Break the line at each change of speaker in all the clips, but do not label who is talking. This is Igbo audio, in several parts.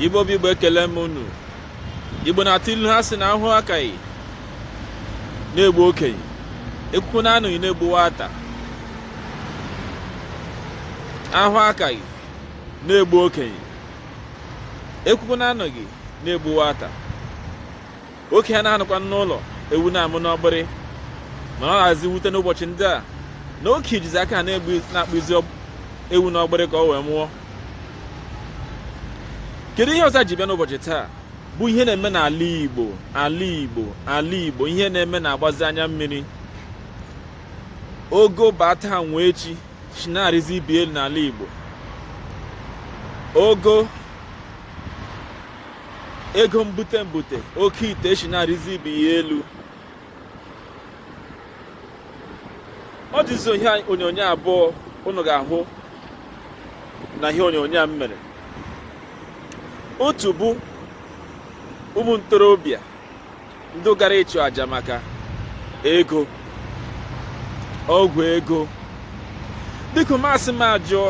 igbo bụ igbo ekelee m unu igbo na-atụ ilu ha sị na ahụ akaghị na-egbu okenye ekwukwanụ anụghị na-egbu nwata ahụ akaghị na-egbu okenye ekwukwanụ anụghị na-egbu nwata okenye anaghị anọkwa n'ụlọ ewu na-amụ n'ọgbịrị mana ọ dịzi mwute n'ụbọchị ndị a na okenye jizi aka ha na-akpụzi ewu n'ọgbịrị ka ọ wee mụọ kedu ihe ọzọ ji bịa n'ụbọchị taa bụ ihe na-eme n'ala Igbo ala Igbo ala Igbo ihe na-eme na-agbazi anya mmiri ogo bata nwee echi si na-arịzi ibe ya elu n'ala Igbo ogo ego mbute mbute oke ite si na-arịzi ibe ya elu ọ dịzi ihe onyonyo abụọ unu ga-ahụ n'ihe onyonyo a m mere otu bụ ụmụ ntorobịa ndị gara ịchụ aja maka ego ọgwụ ego biko masị m ajụọ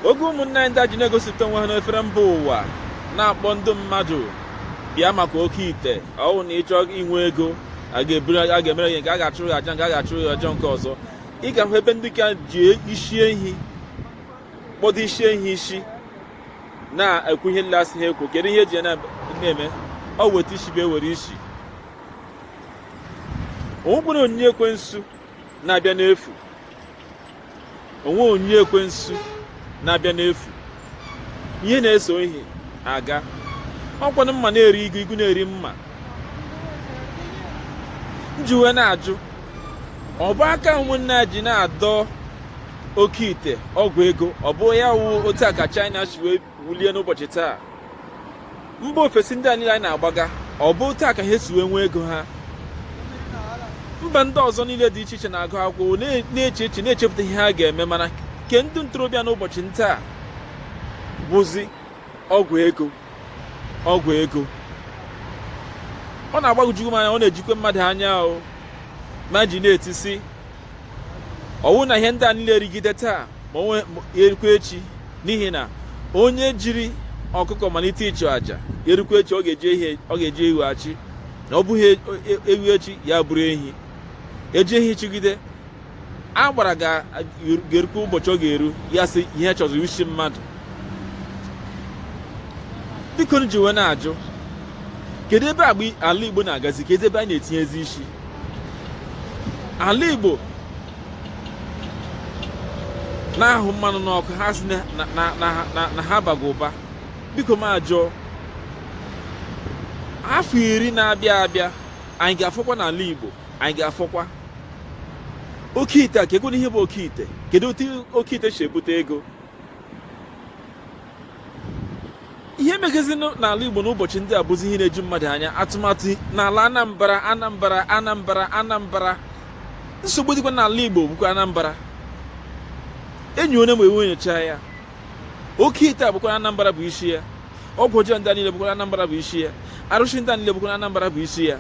oge ụmụnne anyị ndị a ji na-egosipụta onwe ha n'efere mba ụwa na-akpọ ndị mmadụ bịa maka oke ite ọ wụ na ị chọọ inwe ego a ga-emere gị nke a ga-achụrụ gị aja nke a a ga-achụrụ gị aja nke ọzọ ị ga-ahụ ebe ndị ka ji isi ehi kpọdo isi ehi isi na-ekwu ihe nlasị ha ekwu kedu ihe eji ya na-eme ọ weta isi bịa were isi o nwekwanụ onyinye ekwensu na-abịa n'efu o nwere onyinye ekwensu na-abịa n'efu ihe na-eso ihe aga ọkwanụ mma na-eri igu igu na-eri mma m ji wee na-ajụ ọ bụ aka ụmụnne ji na-adọ oke ite ọgwụ ego ọ bụ ya wụ otu a ka China si wee wulie n'ụbọchị taa mba ofesi ndị a niile anyị na-agbaga ọ bụ otu a ka ha si wee nwee ego ha mba ndị ọzọ niile dị iche iche na-agụ akwụkwọ na-eche eche na-echepụta ihe ha ga-eme mana nke ndị ntorobịa n'ụbọchị taa bụzi ọgwụ ego ọgwụ ego ọ na-agbagwoju m anya ọ na-ejikwe mmadụ anya o ma ji na-etisi ọ wụ na ihe ndị a niile erigide taa ma onwe erikwa echi n'ihi na onye jiri ọkụkọ malite ịchụ aja erukwa echi ọ ga-eji ihe ọ ga-eji ewu achụ na ọ bụghị e, e, ewu echi ya bụrụ ehi eji ehi chụgide agbara ga-erukwa ụbọchị ọ ga-eru ya sị ihe ọ chọzi wụ isi mmadụ bikonụ m ji wee na-ajụ kedu ebe ala igbo na-agazi kedu ebe anyị na-etinyezi isi ala Igbo na-ahụ mmanụ n'ọkụ ha sị na ha bago ụba biko m ajụọ afọ iri na-abịa abịa anyị ga-afọkwa n'ala Igbo anyị ga-afọkwa oke ite a kee gonu ihe bụ oke ite kedu otu oke ite si ebute ego ihe megazi n'ala Igbo n'ụbọchị ndị a bụzi ihe na-eju mmadụ anya atụmatụ n'ala Anambra Anambra Anambra Anambra nsogbu dịkwa n'ala Igbo bụkwa Anambra enyi onye ma e wee nyochaa ya oke ite a bụkwa Anambra bụ isi ya ọgwụ ọjọọ ndị a niile bụkwa Anambra bụ isi ya arụsị ndị a niile bụkwa Anambra bụ isi ya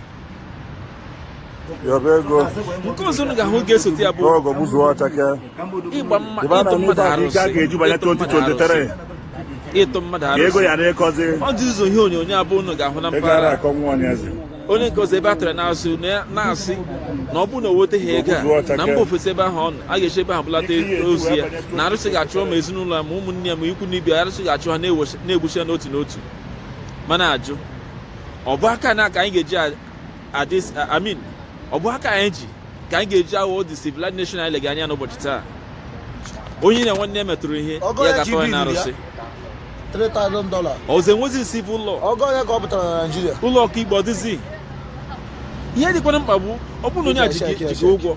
yọba ego nke ọzọ unu ga-ahụ ga-esote ya bụ ọgọ gbuzuo ọchake ịgba mma ịba na ịtụ mmadụ n'ibe arụsị ga ga-eju banye ịtụ mmadụ 2023 arụsị. ịtụ mmadụ ka ego arụsị ya na-ekọzi ọ dị ụzọ ihe onyonyo abụọ unu ga-ahụ na ego ara mpaghara akọ nwa onye eze onye nke ọzọ ebe a tara n'azụ na ya- na-asị na ọ bụrụ na o weteghị ego a na mba ofesi ebe ahụ ọ nọ a ga-esi ebe ahụ bulata ozu ya na arụsị ga-achụ ma ezinụlọ ya ma ụmụnne ya ma ikwu na ibe ya, arụsị ga-achụ ha na-ewechi- na-egbusi ya n'otu n'otu m ana-ajụ ọ bụ aka na ka anyị ga-eji adị I mean ọ bụ aka anyị ji ka anyị ga-eji aghọ the civilized nation anyị lega anya n'ụbọchị taa onye ya na nwanne ya metụrụ ihe ya gaa tụọ ya na
arụsị ọzọ
enwezi civil
law ụlọ ọkaikpe ọ dịzi
ihe dịkwanụ mkpa bụ ọ bụrụ na onye a ji gị ụgwọ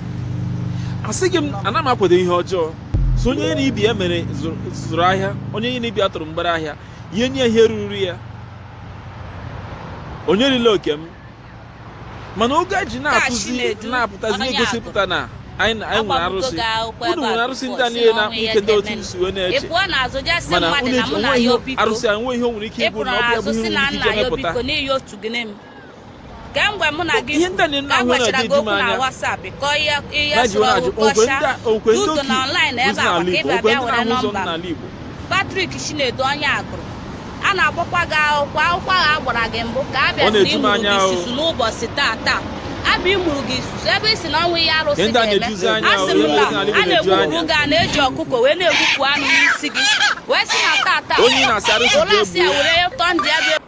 asịghị m ana m akwado ihe ọjọọ so onye ya na ibe ya mere zụrụ ahịa onye ya na ibe ya tụrụ mgbere ahịa ya nye ya ihe ruru ya onye rila oke m mana oge a ji na-atụzi na-apụtazi na-egosipụta na anyị nwere arụsị unu nwere arụsị ndị a niile na-akpa ike ndị otu si wee na-eche mana unu eji onwe ihe arụsị a nwe ihe o nwere ike ịbụ na ọ bịa bụ ihe nwere ike ije mepụta
kemgbe mụ na gị agwachara
gị okwu na WhatsApp kọọ ihe ihe sụrụ ọgụkọcha duto na online ebe a maka ịbịa bịa were nọmba Patrick Chinedu
onye Agụlụ a na-agbakwa gị akwụkwọ akwụkwọ ahụ a gbara gị mbụ ka a bịa na ịmụrụ gị isusu n'ụbọchị taa taa abịa ịmụrụ gị isusu ebe ị sị na o nwe ihe arụsị ga-eme asị m na a na-egbupụ gị a na-eji ọkụkọ wee na-egbupụ anụ n'isi gị wee sị na taa taa ụlọ asị a were tọọ ndị ya bịa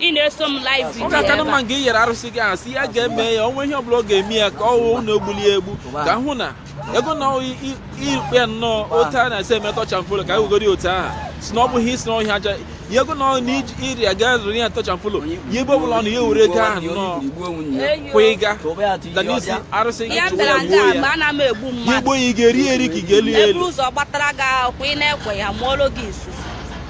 ị na-eso m live video ọ ga-aka na mma nke i yere
arụsị gị ahụ sị ya ga-eme ya o nwe ihe ọbụla ọ ga-eme ya ka ọ hụ na o gbulu ya egbu ka hụ na ego na ikpe ya nnọọ otu a na-esi eme touch and follow ka e wegoro ya otu ahụ sị na ọ bụghị isi na ọhịa aja ya ego na na iri ya gaa zụrụ ya touch and follow ya ebe ọbụla ọ nọ ya were ego ahụ nnọọ kwa ịga ga n'isi arụsị gị chụwa ya gbuo ya ya egbuo ya ị ga-eri eri ka ị ga-eli ya eli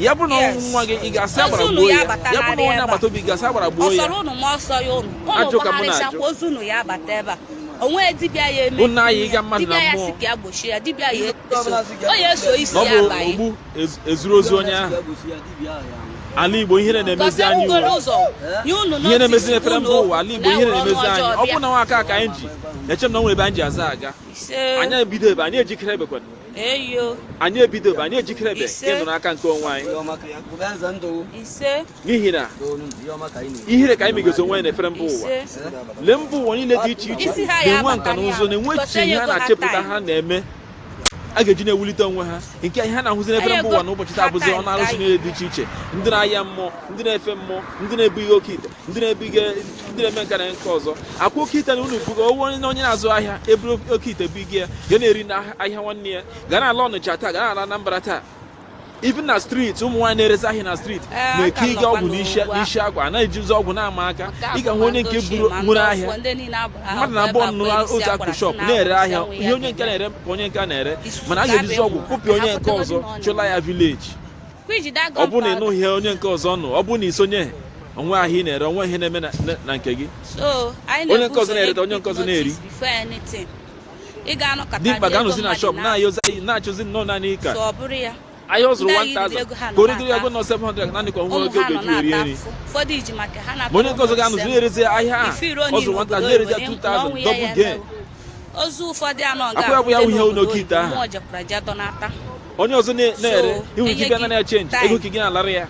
ya bụrụ na ọ bụ nwa gị ị ga-asị agbara gbuo ya ya bụrụ na onye agbata obi ga-asị agbara gbuo
ya ajụ ka mụ na-ajụ o nwe dibịa ya eme unu anyịga mmadụ na mmụọ dibịa
ya si ka gbochie ya
dibịa ya o ya eso isi ya abaghị ogbu
ezuru ozu onye ahụ ala igbo ihere na-emezi anyị ihe na-emezi n'efere mba ụwa ala igbo ihe na-emezi anyị ọ bụrụ na nwa aka ka anyị ji eche m na o nwe ebe anyị ji azụ aga anyị ebidobe anyị ejikerebekwana anyị ebidobe anyị ejikerebe ịnọ n'aka nke onwe anyị n'ihi na ihere ka anyị megozi onwe anyị n'efere mba ụwa lee mba ụwa niile dị iche iche na-enwe nka na ụzụ na-enwe echiche ihe ha na-achepụta ha na-eme a ga-eji na-ewulite onwe ha nke ihe a na-ahụzi n'efere mba ụwa n'ụbọchị taa bụzi ọnụ arụsị niile dị iche iche ndị na-ahịa mmụọ ndị na-efe mmụọ ndị na-ebu ihe oke ite ndị na-ebiga ndị na-eme nke a na nke ọzọ akwụ oke ite na unu buga owe onye na onye na-azụ ahịa eburu oke ite bụ ige ya ga na-eri na ahịa nwanne ya gaa n'ala ọnịcha taa gaa n'ala anambra taa even na streeti ụmụ nwaanyị na-erezi ahịa na streeti eh, na-eke ịga ọgwụ n'isi agwa anaghị eji ụzọ ọgwụ na-ama aka ị ga-ahụ onye nke buru nwere ahịa mmadụ na abụọ nọrọ otu akụkụ shọp na-ere ahịa ihe onye nke a na-ere ka onye nke a na-ere mana a ga-ejizi ọgwụ kụpịa onye nke ọzọ chụla ya vileji ọ bụrụ na ị nọghị onye nke ọzọ nọ ọ bụrụ na i sonye o nwe ahịa ị na-ere o nwe ihe na-eme na nke gị onye nke ọzọ na-ereta onye nke ọzọ na-eri dimkpa ga-anọzi na shọp na-achọzi nnọọ naanị ka ahịa ọ zụrụ 1000 ka o regoro ya go nọ 700 naanị ka o nwee ego ọ ga-eji eri nri ma onye nke ọzọ ga-anọzi na-erezi ahịa a ọ zụrụ 1000 na-erezi ya 2000 double gain ozu ụfọdụ anọ ga-abụ ihe n'oke ite ahụ onye ọzọ na-ere ihu ike bịa na ya chenji ego ka gị na-alara ya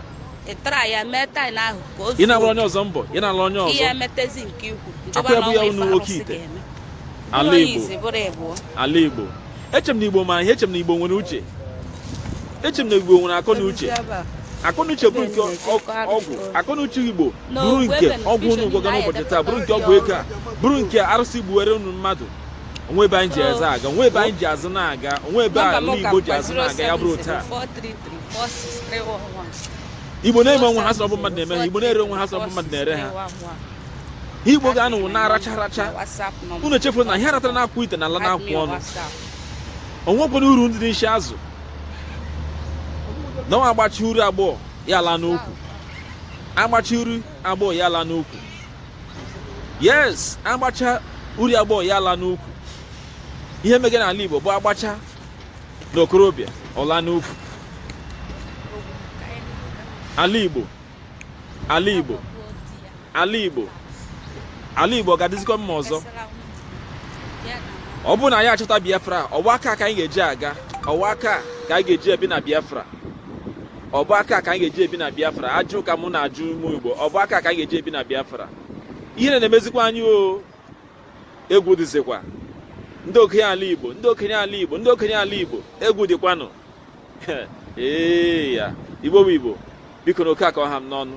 ịtara ya mee taị na ahụ ka o ị na-agbara onye ọzọ mbọ ị na-arụ onye ọzọ ihe emetezi nke ikwu njọba na ọnwa ife arụsị ga-eme ala Igbo ala Igbo eche m na Igbo ma ihe eche m na Igbo nwere uche eche m na Igbo nwere akọ na uche akọnuche bụrụ nke ọgwụ akọnuche igbo bụrụ nke ọgwụ unu gwọga n'ụbọchị taa bụrụ nke ọgwụ ego a bụrụ nke arụsị gbuwere unu mmadụ o nwe ebe anyị ji azụ aga o nwe ebe anyị ji azụ na-aga o nwe ebe ala Igbo ji azụ na-aga ya bụrụ taa Igbo na-eme onwe ha sị ọ bụ mmadụ na-eme ha Igbo na-ere onwe ha sị ọ bụ mmadụ na-ere ha Igbo ga-anọ na-aracha aracha unu echefuru na ihe a ratara n'akụkụ ite na-ala n'akụkụ ọnụ o nwekwanụ uru dị n'isi azụ na nwa agbachi uru agbọọ ya ala n'ukwu agbachi uru agbọọ ya ala n'ukwu yes agbacha uri agbọghọ ya ala n'ukwu ihe mege n'ala Igbo bụ agbacha na okorobịa ọ la n'ukwu ala Igbo ala Igbo ala Igbo ala Igbo ga-adịzikwa mma ọzọ ọ bụrụ na anyị achọta Biafra ọ wụ aka ka anyị ga-eji aga ọ wụ aka ka anyị ga-eji ebi na Biafra ọ bụ aka ka anyị ga-eji ebi na biafra ajụ ka mụ na-ajụ ụmụ igbo ọ bụ aka ka anyị ga-eji ebi na biafra ihe na-emezikwa anyị o egwu dịzikwa ndị okenye ala igbo ndị okenye ala igbo ndị okenye ala igbo egwu dịkwanụ ee ya igbo bụ igbo bikonụ nke a ka ọ ha m n'ọnụ